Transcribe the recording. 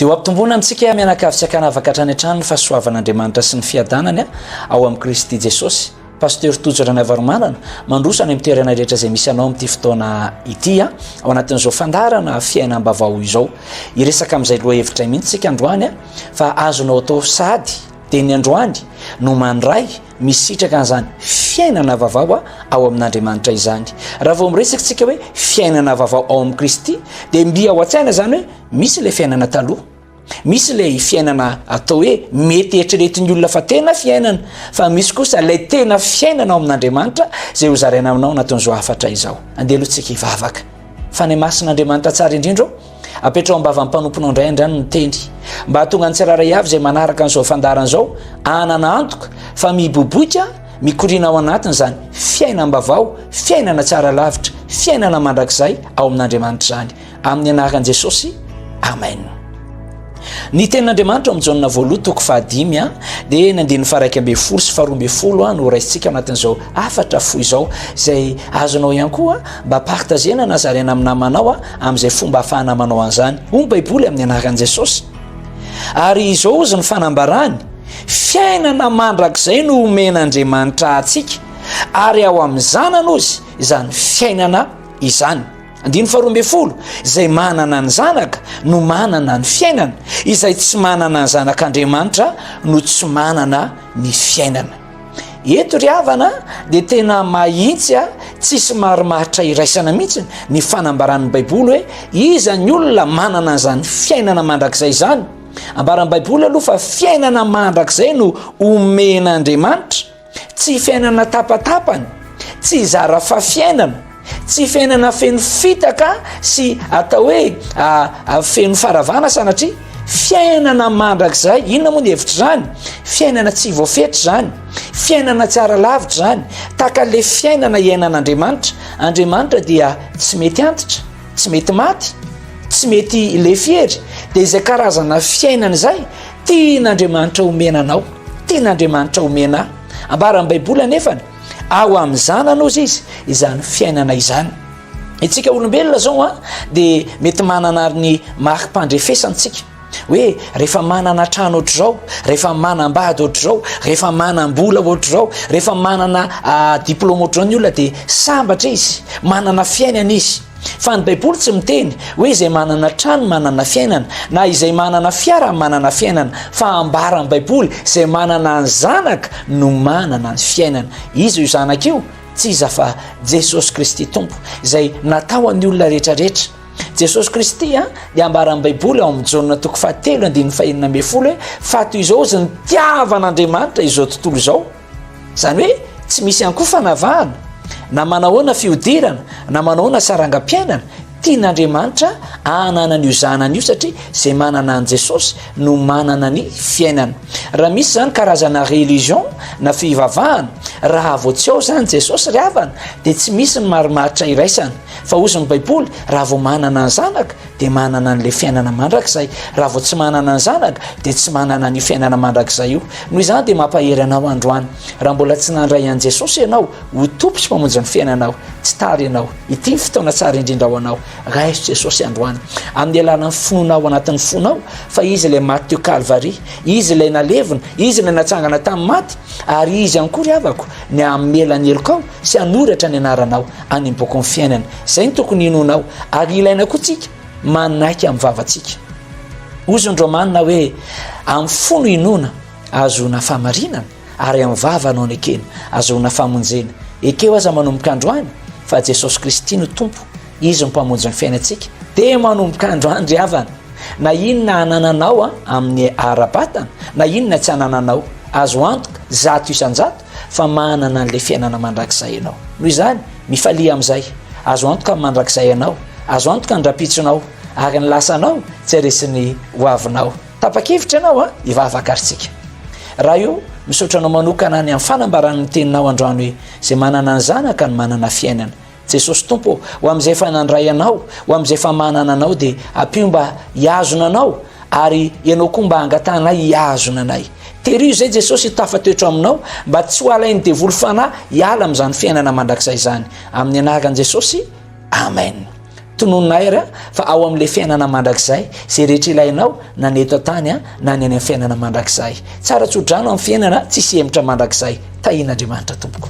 Dia ho ampitomboana amintsika mianakavy tsy an-kanavaka hatrany hatrany ny fahasoavan'Andriamanitra sy ny fiadanany ao amin'i Kristy Jesosy. Pasteur Tojo Ranaivaromanana, mandroso any amin'ny toerana rehetra izay misy anao amin'ity fotoana ity a, ao anatin'izao fandaharana fiainam-bavao izao. Hiresaka amin'izay lohahevitray mihitsy isika androany a, fa azonao atao sahady dia ny androany no mandray misitraka an'izany fiainana vavao a ao amin'andriamanitra izany raha vao miresaka tsika hoe fiainana vavao ao amin'i kristy dia mbi ao an-tsaina zany hoe misy ilay fiainana taloha misy ilay fiainana atao hoe mety eritreretin'ny olona fa tena fiainana fa misy kosa ilay tena fiainana ao amin'andriamanitra zay ho zaraina aminao anatin'izao hafatra izao andeha aloha tsika hivavaka fa ny masin'andriamanitra tsara indrindra Apetraho am-bavan'ny mpanomponao indray andriany ny teny, mba hahatonga ny tsirairay avy izay manaraka an'izao fandaharana izao hanana antoka fa miboiboika mikoriana ao anatiny izany fiainam-bavao, fiainana tsara lavitra, fiainana mandrakizay ao amin'Andriamanitra izany. Amin'ny anaran'i Jesosy, Amen. Ny tenin'Andriamanitra ao amin'ny Jaona voaloha toko fahadimy a dia ny andininy faraika ambin'ny folo sy faharoa ambin'ny folo a no raisintsika anatin'izao hafatra fohy izao izay azonao ihany koa mba partagena na zaraina amin'ny namanao a amin'izay fomba hafahana manao an'izany ho ny baiboly amin'ny anaran'i Jesosy ary izao ozy ny fanambarany fiainana mandrakizay no omen'Andriamanitra antsika ary ao amin'ny zanany ozy izany fiainana izany Andininy faharoa ambin'ny folo, izay manana ny zanaka no manana ny fiainana, izay tsy manana ny zanak'Andriamanitra no tsy manana ny fiainana. Eto ry havana dia tena mahitsy a, tsisy marimaritra iraisana mihitsy ny fanambaran'ny Baiboly hoe iza ny olona manana an'izany fiainana mandrakizay izany. Ambaran'ny Baiboly aloha fa fiainana mandrakizay no omen'Andriamanitra. Tsy fiainana tapatapany, tsy zara fafiainana, tsy fiainana feno fitaka sy atao hoe feno faravana sanatria, fiainana mandrakizay, inona moa ny hevitry zany? Fiainana tsy voafetra zany, fiainana tsy ara lavitra zany, tahaka le fiainana iainan'Andriamanitra, Andriamanitra dia tsy mety antitra, tsy mety maty, tsy mety lefy hery, de izay karazana fiainana izay, Tian' Andriamanitra homena anao, tian' Andriamanitra homena ahy. Ambaran' ny Baiboly anefany, ao amin'ny Zanany ozy Izy izany fiainana izany. Itsika olombelona zao an, dia mety manana ary ny mari-pandrefesantsika, hoe rehefa manana trano ohatr'izao, rehefa manam-bady ohatr'izao, rehefa manam-bola ohatr'izao, rehefa manana diplaoma ohatr'izao ny olona dia sambatra izy, manana fiainana izy. Fa ny Baiboly tsy miteny hoe izay manana trano manana fiainana, na izay manana fiara manana fiainana, fa ambara ny Baiboly izay manana ny zanaka no manana ny fiainana. Iza io zanaka io? Tsy iza fa Jesosy Kristy Tompo izay natao an'ny olona rehetrarehetra. Jesosy Kristy a dia ambaran'ny Baiboly ao amin'ny Jaona toko fahatelo andininy fahenina ambin'ny folo hoe fa toy izao ozy ny tiavan'Andriamanitra izao tontolo izao Izany hoe tsy misy ankoho fanavahana na manahoana fihodirana na manahoana sarangam-piainana, tian'Andriamanitra ahanana an'io zanany io satria izay manana an'i Jesosy no manana ny fiainana. Raha misy izany karazana religion na fivavahana, raha vao tsy ao izany Jesosy ry havana dia tsy misy ny marimaritra iraisana. Fa hozy ny Baiboly, raha vao manana ny zanaka, dia manana an'ilay fiainana mandrakizay raha vao tsy manana ny zanaka dia tsy manana ny fiainana mandrakizay io noho izany dia mampahery anao androany raha mbola tsy nandray an'i jesosy ianao ho tompo sy mpamonjy ny fiainanao tsy tary ianao ity ny fotoana tsara indrindra ao anao raiso jesosy androany amin'ny alana ny finoana ao anatin'ny fonao fa izy ilay maty teo kalvari izy ilay nalevina izy ilay natsangana tamin'ny maty ary izy ihany koa ry havako ny amelany helokao sy hanoratra ny anaranao any amin'ny bokin'ny fiainana. Izay no tokony hinoanao, ary ilaina koa tsika manaiky amin'ny vavantsika. Hozy ny Romanina hoe, amin'ny fo no inoana, ahazoana famarinana, ary amin'ny vava no anekena, ahazoana famonjena. Ekeo aza manomboka androany fa Jesosy Kristy no Tompo, Izy no Mpamonjy ny fiainantsika. Dia manomboka androany ry havana, na inona anananao amin'ny ara-batana, na inona tsy anananao, azo antoka zato isan-jato fa manana an'ilay fiainana mandrakizay ianao noho izany mifalia amin'izay azo antoka ny mandrakizay ianao azo antoka ny rapitsonao ary ny lasanao tsy aresin'ny hoavinao tapa-kevitra ianao a hivavaka ary tsika raha io misaotra anao manokana any amin'ny fanambaran'ny teninao androany hoe izay manana ny zanaka ny manana fiainana Jesosy Tompo ô, ho amin'izay efa nandray Anao, ho amin'izay efa manana Anao, dia ampio mba hihazona Anao, ary Ianao koa mba hangatahanay hihazona anay. Teriho izay Jesosy hitafa toetra Aminao, mba tsy ho alain'ny devoly fanahy hiala amin'izany fiainana mandrakizay izany. Amin'ny anaran'i Jesosy, Amen. Tononina Air fa ao amin'ilay fiainana mandrakizay izay rehetra ilainao na ny eto an-tany na ny any amin'ny fiainana mandrakizay. Tsara tsodrano amin'ny fiainana tsisy hemotra mandrakizay. Tahian'Andriamanitra tompoko.